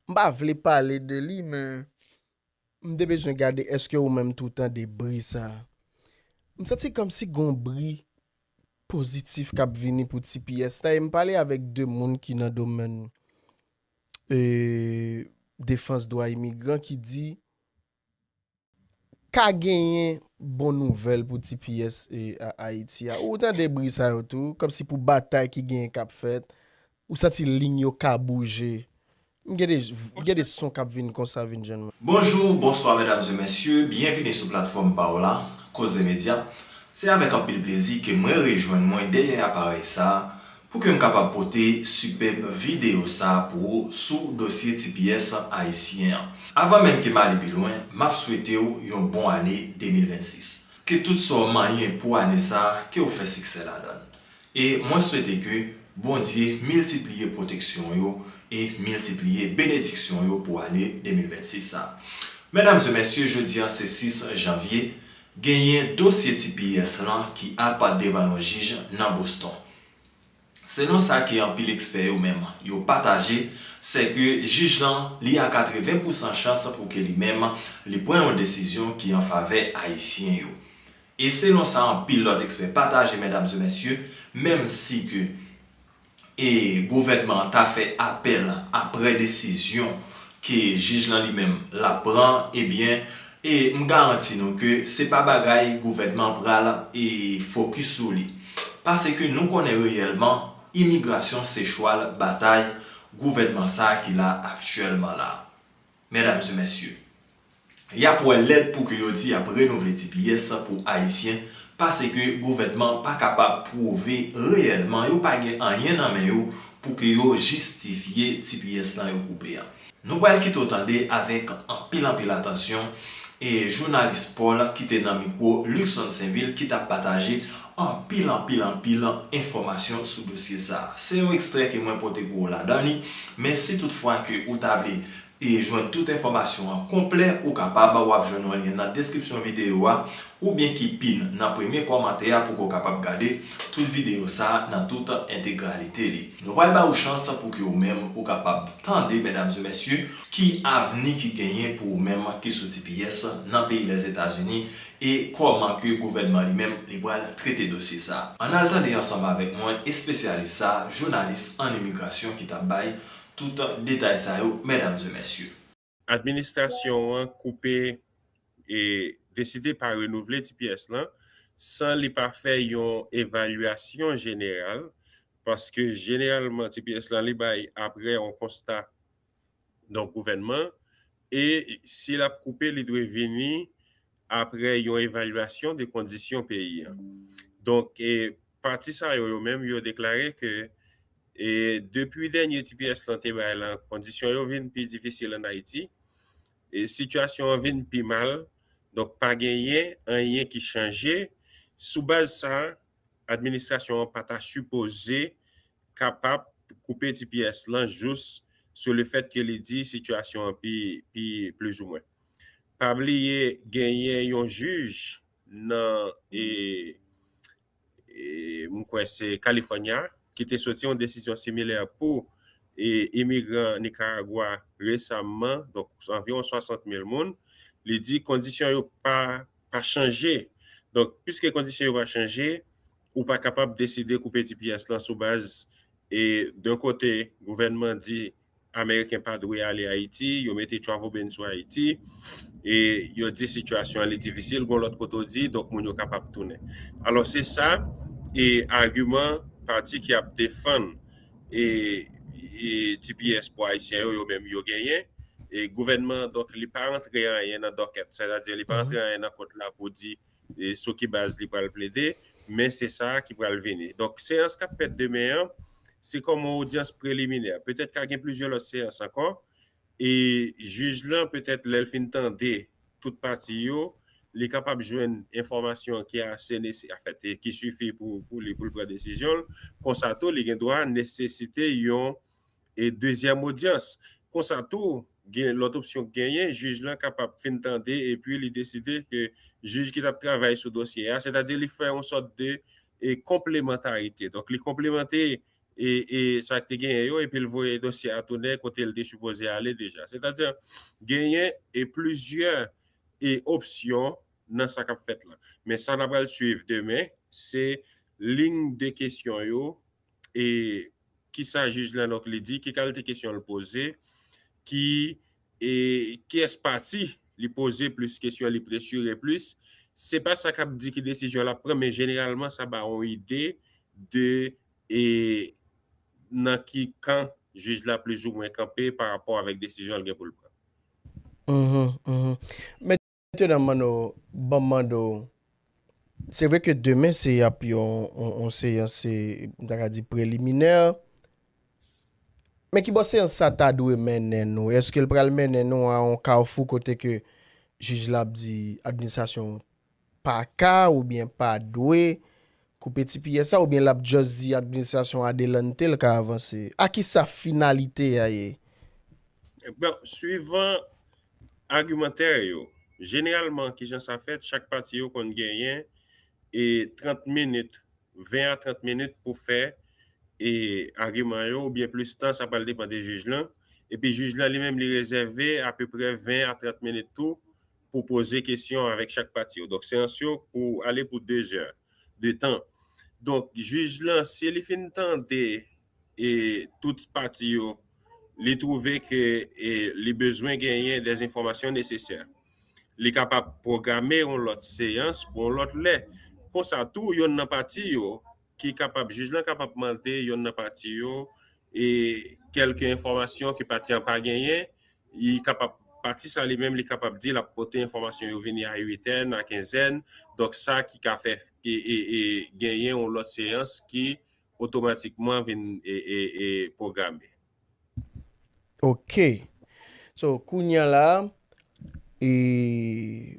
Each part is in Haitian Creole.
M pa vle pale de li men m te bezwen gade eske ou menm tou tande bri sa. M santi kòmsi gon bri pozitif kap vini pou tps la e m pale avèk 2 moun ki nan domèn defans dwa imigran ki di. ka genyen bon nouvèl pou tps Ayiti a. Ou tande bri sa yo tou, kòmsi pou batay ki genyen k ap fèt, ou santi lign yo ka bouje. M gen de, m gen de son k ap vin konsa vin jwenn mwen. Bonjou, bonswa medam e mesye, byenvini sou platfòm pa w la, Koze Medya. Se avèk anpil plezi ke mwen rejwenn mwen dèyè aparèy sa Pou ke m kapab pote sipèb videyo sa pou ou sou dosye tps ayisyen an. Avan menm ke m ale pi lwen, m ap swete w yon bon ane 2026. Ke tout sa w manyen pou ane sa ke w fè siksè ladan l. E mwen swete ke Bondye miltipliye pwoteksyon yo e miltipliye benediksyon yo pou ane 2026 sa. Medam e mesye jodi an se 6 janvye, Genyen dosye tps lan ki apa devan yon jij nan Boston. Selon sa ke anpil ekspè yo menm yo pataje, sè ke jij lan li a 80 pousan chans pou ke li menm li pran yon desizyon ki an favè Ayisyen yo. E selon sa anpil lòt ekspè pataje mèdam e mèsye, menm si ke. e gouvènman an ta fè apèl aprè desizyon ke jij lan li menm lap pran ebyen e m garanti nou ke se pa bagay gouvènman pral e fokis sou li paseke nou konnen reyèlman imigrasyon se chwal batay gouvènman sa ki la aktyèlman la. Medam se mesye. Yap wè lèd pou ke yo di yap renouvle tps pou ayisyen pase ke gouvènman pa kapab pwouve reyèlman yo pa gen anyen nan men yo pou ke yo jistifye tps lan yo koupe an. Nou pral kite w tande avèk anpil anpil atansyon e jounalis Paul ki te nan mikwo Luckson Sainvil ki tap pataje anpil anpil anpil enfòmasyon sou dosye sa a. Se yon ekstrè ke mwen pote pou ou ladan li, men si tout fwa ke ou ta vle jwenn tout enfòmasyon an konplè, ou kapab, wap jwenn yon lyen nan deskripsyon videyo a, oubyen ki pin nan premye kòmantè a pou ke ou kapab gade tout videyo sa a nan tout entegralite li. Nou pral ba ou chans pou ke ou menm ou kapab tande, medam e mesye, ki avni ki genyen pou ou menm ki sou tps nan peyi Lèzetazini, E kòman ke gouvènman li menm li pral trete dosye sa? Ann al tande ansanm avèk mwen espesyalis sa, jounalis an imigrasyon ki tap bay tout detay sa yo mèdam e mèsye. Administrasyon an koupe e deside pa renouvle tps lan san li pa fè yon evalyasyon jeneral paske jeneralman tps lan li bay apre yon konsta donk gouvènman, e si l ap koupe li dwe vini aprè yon evalyasyon de kondisyon peyi an. Donk pati sa yo yo menm yo deklare ke depi dènye tps lan te bay lan kondisyon yo vin pi difisil an Ayiti, sitiyasyon an vin pi mal, donk pa genyen anyen ki chanje, sou baz sa Administrasyon an pa ta sipoze kapab koupe tps lan jous sou le fèt ke li di sitiyasyon an pi pi plizoumwen. Pa bliye genyen yon jij nan e e m kwè se California ki te soti yon desizyon similè pou e imigran Nicaragua resamman donk anviwon 60 mil moun li di kondisyon yo pa pa chanje. Donk, piske kondisyon yo pa chanje, ou pa kapab deside koupe tps lan sou baz e d'un kote gouvènman di ameriken pa dwe ale Ayiti, yo mete travel ban sou Ayiti e yo di sitiyasyon an li difisil, gon lòt kote ou di donk moun yo kapab tounen. Alò se sa e agiman pati ki ap defann e tps pou ayisyen yo yo menm yo genyen e gouvènman an donk li pa rantre anyen nan dòkèt sè ta di li pa rantre anyen nan kont la pou di sou ki baz li pral plede men se sa ki pral vini donk seyans kap fèt demen an se kòm yon odyans preliminè petèt ka gen plizyè lòt seyans ankò. E jij lan petèt lè l fin tande tout pati yo, li kapab jwenn enfòmasyon ki ase nese, anfèt ki sifi pou li pou l pran desizyon l. Konsa tou li gen dwa nesesite yon dezyèm odyans. Konsa tou gen lòt opsyon k genyen, jij lan kapab fin tande epi li deside ke jij ki t ap travay sou dosye a, sètadi li fè yon sòt de konplemantarite. Donk li konplemante e sa ki te genyen yo epi l voye dosye a tounen kote l te sipoze ale deja. Sètadi, genyen e plizyè e opsyon nan sa k ap fèt la. Men sa n ap pral suiv demen, se lign de kesyon yo e ki sa jij Lenock Lee di, ki kalite kesyon l poze, ki e kiyès pati li poze plis kesyon, li presire plis. Se pa sa k ap di ki desizyon l ap pran men jeneralman sa ba yon ide de E nan ki kan jij la plizoumwen kanpe pa rapò avèk desizyon l gen pou l pran. Mèt Mesye dam Manno banm mande w se vre ke demen se ap yon seyans se m ta ka di preliminè men ki bò seyans sa ta dwe mennen nou eske l pral mennen nou a yon kafou kote ke jij la ap di administrasyon pa ka oubyen pa dwe koupe ti piyè sa oubyen lap just di administrasyon adelante l ka avanse? A ki sa finalite a ye? Bon, swivan agimantè yo, jeneralman ki jan sa fèt, chak pati yo konn genyen 30 minit, 20 a 30 minit pou fè agiman yo oubyen plis tan, sa pral depan de jij lan, epi jij lan li menm li rezève apeprè 20 a 30 minit tou pou poze kesyon avèk chak pati yo. Donk seyans yo pou ale pou 2 zè de tan. Donk jij lan si li fin tande e tout pati yo, li twouve ke e li bezwen genyen dè enfòmasyon nesesè, li kapab pwograme yon lòt seyans pou yon lòt lè. Konsa tou yonn nan pati yo ki kapab, jij lan kapab mande yonn nan pati yo e kèlke enfòmasyon ke pati an pa genyen, li kapab, pati sa li menm li kapab di lap pote enfòmasyon yo vini a uitèn, a kenzèn, donk sa ki ka fè e genyen yon lòt seyans ki otomatikman vin pwograme. Ok So kounya la e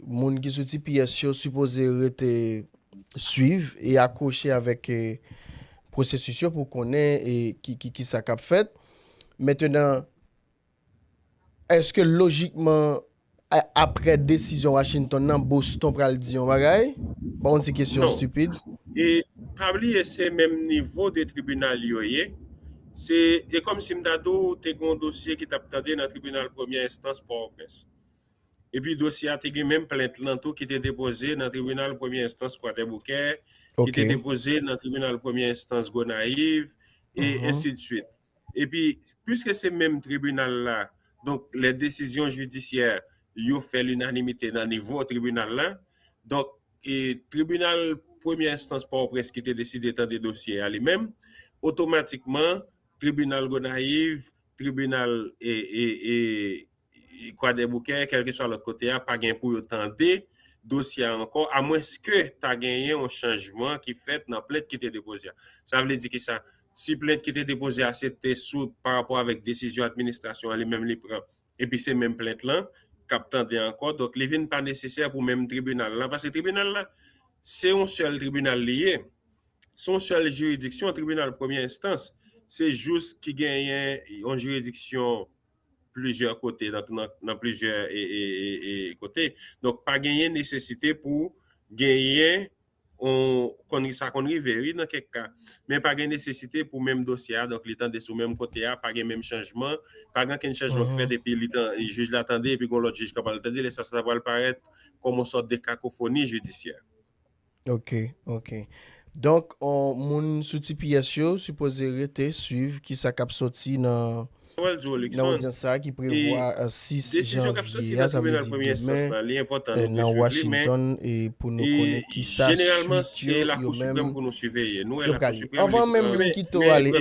moun ki sou tps yo sipoze rete swiv e akwoche avèk e pwosesis yo pou konnen e ki ki ki sa kap fèt. Mentenan eske lojikman Aprè desizyon Washington nan, Boston pral di yon bagay? M pa konn si kesyon an stupid. Non. E pa bliye se menm nivo 2 tribinal yo ye. Se e kòm si m ta di w te gen yon dosye ki t ap tande nan tribinal premyè enstans Pòtoprens. Epi dosye a te gen menm plent lan tou ki te depoze nan tribinal premyè enstans Kwadèboukè, ki te depoze nan tribinal premyè enstans Gonayiv, e ensidsuit. Epi, pwiske se menm tribinal la, donk lè desizyon jidisyè yo fè linanimite nan nivo tribinal la, donk tribinal premyè enstans Pòtoprens ki te deside tande dosye a li menm, otomatikman tribinal Gonayiv, tribinal. Kwadèboukè, kèlkeswa lòt kote a, pa gen pou yo tande dosye a ankò, amwenske ta genyen yon chanjman ki fèt nan plent ki te depoze a. Sa vle di ki sa? Si plent ki te depoze a se te sou pa rapò avèk desizyon administrasyon an li menm li pran, epi se menm plent lan k ap tande ankò, donk li vin pa nesesè pou menm tribinal la, paske tribinal la se yon sèl tribinal li ye, se yon sèl jiridiksyon, tribinal premyè enstans se jous ki genyen yon jiridiksyon. plizyè kote nan plizyè kote donk pa genyen nesesite pou genyen yon sa konn rive wi nan kèk ka men pa gen nesesite pou menm dosye a donk li tande sou menm kote a pa gen menm chanjman pa gen okenn chanjman ki fèt depi jij la tande epi gon lòt jij k ap al tande lè sa sa ta pral parèt kòm yon sòt de kakofoni jidisyè. Ok, ok. Donk, on, moun sou tps yo sipoze rete swiv kisa k ap soti nan nan odyans sa a ki prevwa 6 janvye a, sa vle di demen, nan Washington e pou nou konnen kisa swit yo yo menm yo pral ye. Anvan menm m kite w ale,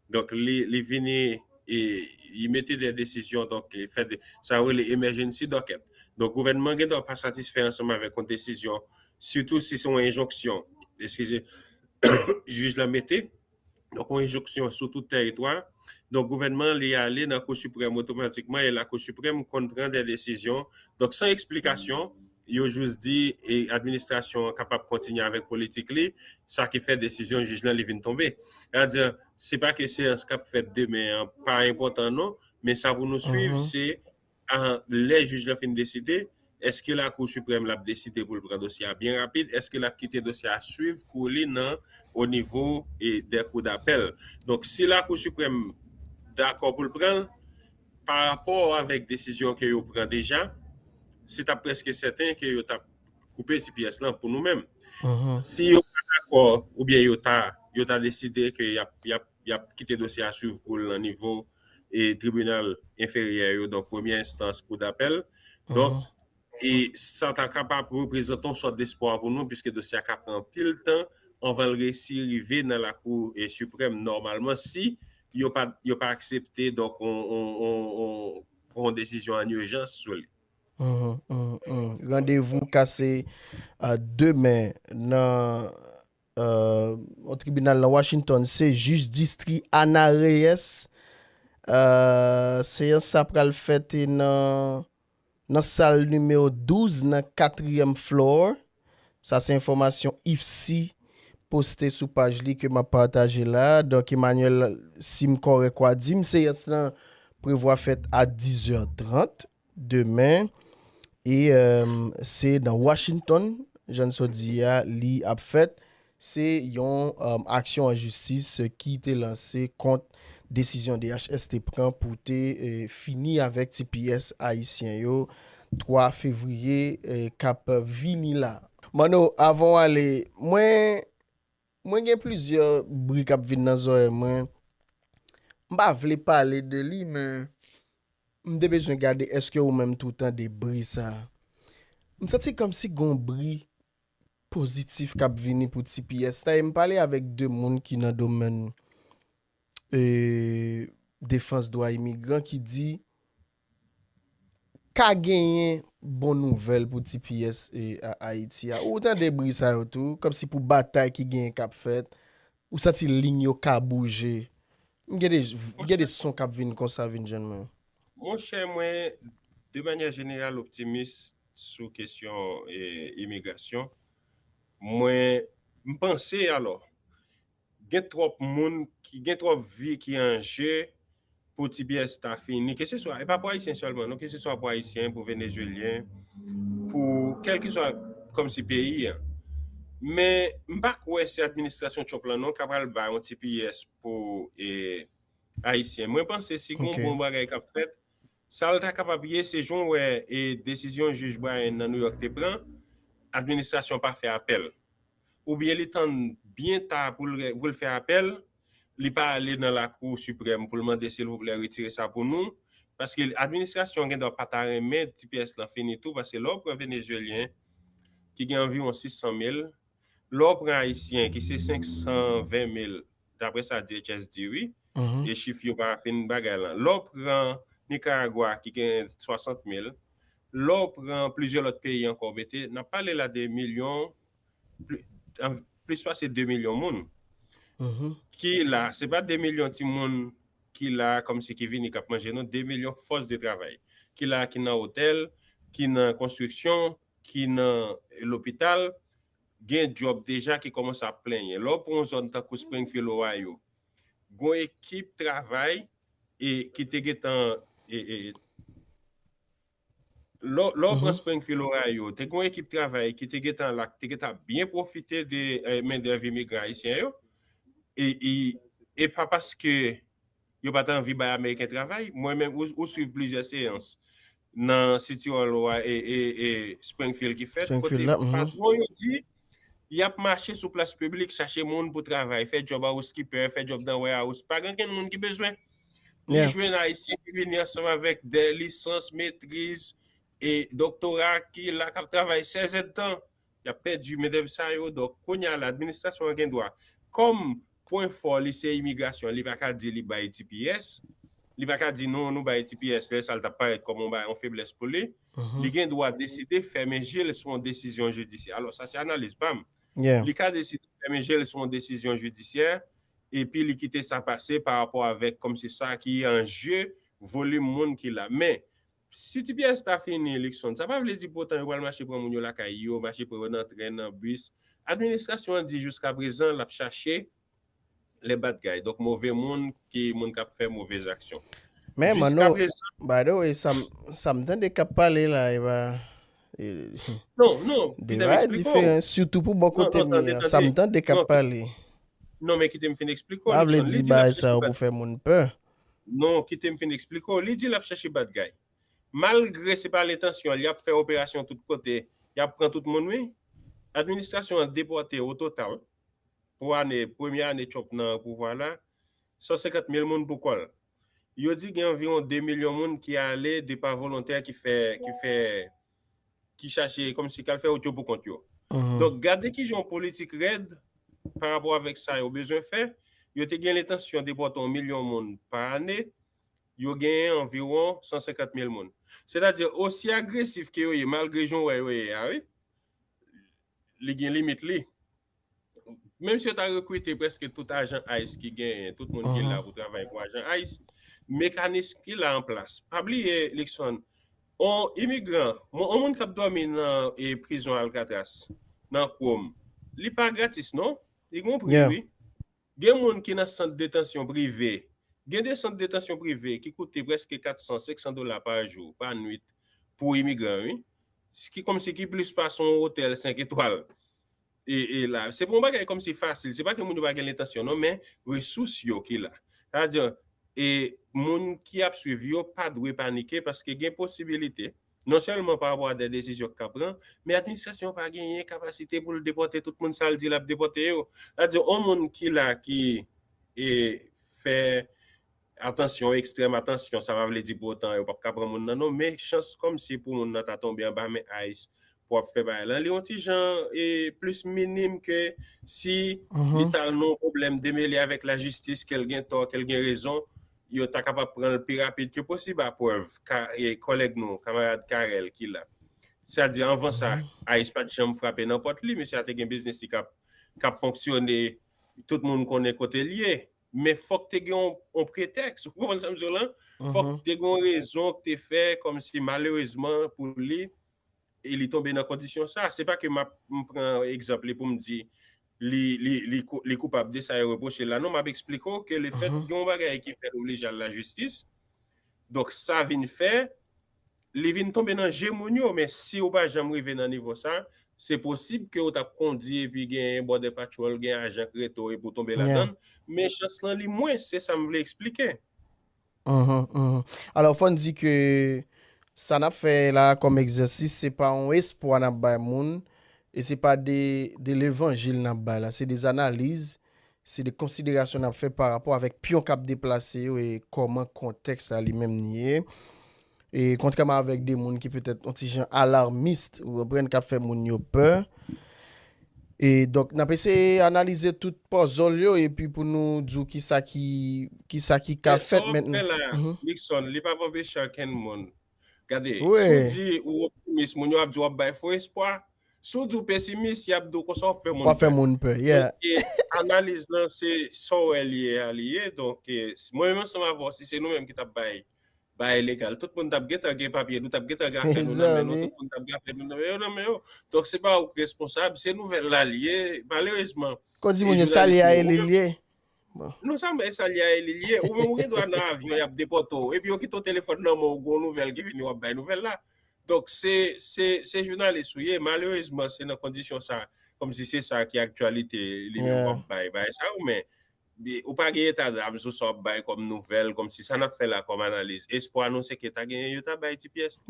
Donk li vini li mete de desizyon donk li fè de sa yo rele emèjennsi dòkèt. Donk gouvènman an gen dwa pa satisfè ansanm avèk yon desizyon sitou si se yon enjonksyon eskize jij la mete donk yon enjonksyon sou tout tèritwa a. Donk gouvènman an li ale nan kou siprèm otomatikman e lakou siprèm konn pran de desizyon donk san eksplikasyon Yo jis di administrasyon an kapab kontinye avèk politik li, sa ki fè desizyon jij lan li vin tonbe. Sètadi, se pa ke seyans k ap fèt demen an pa enpòtan non, men sa pou nou suiv se lè jij lan fin deside, èske Lakou Siprèm la ap deside pou l pran dosye a byen rapid, èske l ap kite dosye a suiv kou li nan onivo dè kou dapèl. Donk, si Lakou Siprèm dakò pou l pran l, Pa rapò avèk desizyon ke yo pran deja, se ta prèske sèten ke yo tap koupe tps lan pou nou menm. Si yo pa dakò oubyen yo ta yo ta deside ke yap yap yap kite dosye a swiv kou l nan nivo tribinal enferyè yo donk premyè enstans, kou dapèl donk. e sa ta kapab reprezante yon sòt despwa pou nou piske dosye a ka pran anpil tan anvan l resi rive nan Lakou Siprèm nòmalman si yo pa yo pa aksepte donk yon desizyon ann ijans sou li. Randevou kase demen nan yon tribinal nan Washington se jij distri Ana Reyes. Seyans sa pral fèt nan. Nan sal nimewo 12 nan katriyèm floor, sa se enfòmasyon IFSI poste sou paj li ke map pataje la, donk Emmanuel sim kòrèk wa dim seyans lan prevwa fèt a 10 zè 30 demen e se nan Washington jan n sot di a li ap fèt. Se yon aksyon an jistis ki te lanse kont desizyon DHS te pran pou te fini avèk tps ayisyen yo 3 fevriye kap vini la. Manno, avan w ale, mwen mwen gen plizyè bri kap vin nan zòrèy mwen. M pa vle pale de li men m te bezwen gade eske ou menm tou tande bri sa. M santi kòmsi gon bri pozitif kap vini pou tps la e m pale avèk 2 moun ki nan domèn defans dwa imigran ki di ka genyen bon nouvèl pou tps Ayiti a. Ou tande bri sa yo tou, kòmsi pou batay ki genyen kap fèt, ou santi lign yo ka bouje. M gen de son kap vin konsa vin jwenn mwen. Monchè mwen de manyè jeneral optimis sou kesyon imigrasyon, mwen m panse alò gen twòp moun, gen twòp vi ki an je pou ti pyès ta fini, ke se swa, e pa pou ayisyen sèlman non, ke se swa pou ayisyen, pou venezuelyen, pou kèlkeswa kòm si peyi an. Men m pa kwè se administrasyon Trump lan non k ap pral bay yon ti pyès pou ayisyen. Mwen panse si gen yon bon bagay k ap fèt, Sa l ta kapab ye, se jan w wè desizyon jij Bryan nan Nouyòk te pran, administrasyon an pa fè apèl. Oubyen li tann byen ta pou l fè apèl, li pa ale nan Lakou Siprèm pou l mande silvouplè retire sa pou nou, paske administrasyon an gendwa pa ta renmen tps lan fini tou paske lè w pran Venezyelyen ki gen anviwon 600 mil, lè w pran Ayisyen ki se 520 mil, daprè sa DHS di wi, e chif yo pa fin bagay lan. Lè w pran Nikaragwa ki gen 60 mil, lè w pran plizyè lòt peyi ankò mete, n ap pale la de milyon, plis pase 2 milyon moun ki la. Se pa 2 milyon ti moun ki la kòmsi ki vini k ap manje non, 2 milyon fòs de travay ki la, ki nan otèl, ki nan konstriksyon, ki nan lopital, Gen djòb deja ki kòmanse ap plenyen. Lè w pran yon zòn tankou Springfield, Ohio, gen yon ekip travay ki te gen tan, lè w pran Springfield, Ohio, te gen yon ekip travay ki te gen tan la ki te gen tan ap byen pwofite de mendèv imigran ayisyen yo. E pa paske. yo pa t anvi bay Ameriken travay. Mwen menm, ou swiv plizyè seyans nan City Hall ou a e Springfield ki fèt, kote patwon yo di y ap mache sou plas piblik chache moun pou travay, fè djòb housekeeper, fè djòb nan warehouse. Pa gen okenn moun ki bezwen. Li jwenn Ayisyen ki vini ansanm avèk 2 lisans, metriz e doktora ki la k ap travay sèzèdtan Y ap pèdi mendèv sa yo. Donk, kounye a la, administrasyon an gen dwa, kòm pwen fò li se imigrasyon, li pa ka di li bay tps. Li pa ka di non, nou bay tps, lè sa l t ap parèt kòm yon feblès pou li. Li gen dwa deside fèmen je l sou yon desizyon jidisyè. Alò, sa se analiz pa m. Li ka deside fèmen je l sou yon desizyon jidisyè epi li kite sa pase parapò avèk kòm se sa ki an je volim moun ki la. Men. Si ti pyès ta fini Luckson, sa pa vle di poutan yo pral mache pran moun yo lakay yo, mache pran yo nan tren, nan bis. Administrasyon an di jiskaprezan l ap chache le badgay, donk move moun ki moun k ap fè move zaksyon. Men Manno, by the way, sa m tande k ap pale la e pa de vay diferan, sitou pou bò kote m ye a, sa m tande k ap pale. Non men kite m fin eksplike w. M pa vle di bagay sa yo pou fè moun pè. Non, kite m fin eksplike w. Li di l ap chèche bad guy. Malgre se pa l entansyon l, y ap fè operasyon tout kote, y ap pran tout moun wi. Administrasyon an depòte ototal pou ane, premye ane Trump nan pouvwa la, 150 mil moun pou kò l. Yo di gen anviwon 2 milyon moun ki ale de pa volontè ki fè, ki fè. ki chache kòm si kal fè wout yo pou kont yo. Donk gade ki jan yon politik rèd pa rapò avèk sa yo bezwen fè, yo te gen lentansyon depòte yon milyon moun pa ane, yo genyen anviwon 150 mil moun. Sètadi osi agresif ke yo ye malgre jan w wè yo ye a wi, li gen limit li. menm si yo ta rekrite prèske tout ajan ice ki genyen, tout moun ki la pou travay pou ajan ice, mekanism ki la an plas. Pa bliye, Luckson, yon imigran, yon moun k ap dòmi nan prizon Alcatraz, nan kwòm, li pa gratis non, li gen yon pri wi. Gen moun ki nan sant detansyon prive, gen de sant detansyon prive ki koute prèske 400, 500 dola pa jou, pa nwit, pou imigran wi. Ki kòmsi ki plis pase yon otèl 5 etwal. e la. Se pa yon bagay kòm si fasil, se pa ke moun yo pa gen lentansyon non men resous yo ki la. Sa di, e moun ki ap swiv yo pa dwe panike paske gen posibilite non sèlman pa rapò a de desizyon ki ka pran, men administrasyon an pa genyen kapasite pou l depòte tout moun sa l di l ap depòte yo. Sa di yon moun ki la ki e fè. Atansyon, ekstrèm atansyon, sa pa vle di pou otan yo pap ka pran moun nan non, men chans kòm se pou moun nan ta tonbe anba men ice pou ap fè bagay lan li yon ti jan plis minim ke si li tal nan yon pwoblèm demele avèk lajistis kel gen tò, kel gen rezon yo ta kapab pran l pi rapid ke posib a prèv ka kòlèg nou kamarad Carel ki la sa di anvan sa ice pat janm frape nan pòt li mesye a te gen biznis li kap kap fonksyone tout moun konnen kote l ye Men fòk te gen yon pretèks, ou konprann sa m di w la? Fòk te gen yon rezon k te fè kòm si malerezman pou li, e li tonbe nan kondisyon sa a. Se pa ke m ap pran egzanp li pou m di li koupab de sa yo repwoche l la. Non, m ap eksplike w ke lefèt gen yon bagay ki fè l oblije al lajistis, donk sa vin fè, Li vin tonbe nan je moun yo, men si ou pa janm rive nan nivo sa, se posib ke ou t ap kondi epi gen Border Patrol, gen ajan k rete w epi w tonbe ladan l, men chans lan li mwens, se sa m vle eksplike. Alò fò n di ke sa n ap fè la a kòm egzèsis se pa yon espwa n ap bay moun e se pa de levanjil n ap bay la, se de analize Se de konsiderasyon n ap fè pa rapò avèk pyon k ap deplase yo e kòman kontèks la li menm ni ye. E kontrèman avèk de moun ki petèt on ti jan alarmist, ou konprann, k ap fè moun yo pè. E donk, n ap eseye analize tout pòzòl yo epi pou nou di w kisa ki, kisa ki ka fèt mentn. Men sa w ap fè la, Luckson, li p ap anpeche ankenn moun Gade, si w di ou optimis, moun yo ap di w ap bay fo espwa. Si w di w pesimis, y ap di w konsa w ap fè moun pè. Wap fè moun pè, yeah. Donke, analiz lan se sa w wè li ye a li ye. Donke, mwen menm ansanm avè w, si se nou menm ki t ap bay baye legal, tout moun t ap gentan gen papye, nou t ap gentan gen afè nou nan men nou, tout moun t ap gen afè nou nan men yo, nan men yo. Donk, se pa ou ki responsab, se nouvèl la li ye. Malerezman, e jounalism yo. Kon di moun yo, sa li a ye li li ye. Non sa mè sa liya e li liye ou menm ou gen dwa nan avyon yap depote w epi yo kite w telefòn nan men w gon nouvèl ki vini wap bay nouvèl la donk se se se jounalis ou ye malerezman se nan kondisyon sa kòmsi se sa ki aktyalite li menm wap bay bagay sa yo men ou pa gen eta dam sou sa wap bay kòm nouvèl kòmsi sa nap fè la kòm analiz espwa nou se ke ta gen yo ta bay ti pyès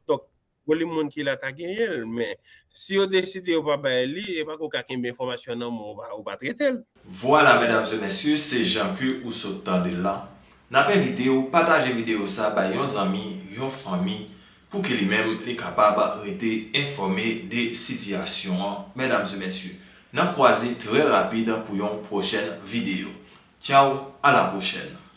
donk Volim moun ki la ta genyen l, men, si yo deside yo pa bay li, e pa ke w ka kenbe enfòmasyon nan men w, ou pa trete l. Vwala medam e mesye se jan ke ou sot tandel lan nap envite ou pataje video sa bay yon zanmi yon fanmi pou ke li menm li kapab rete enfòme de sitiyasyon an medam e mesye nap kwaze trè rapid pou yon pwochèn video tchao a la pwochèn.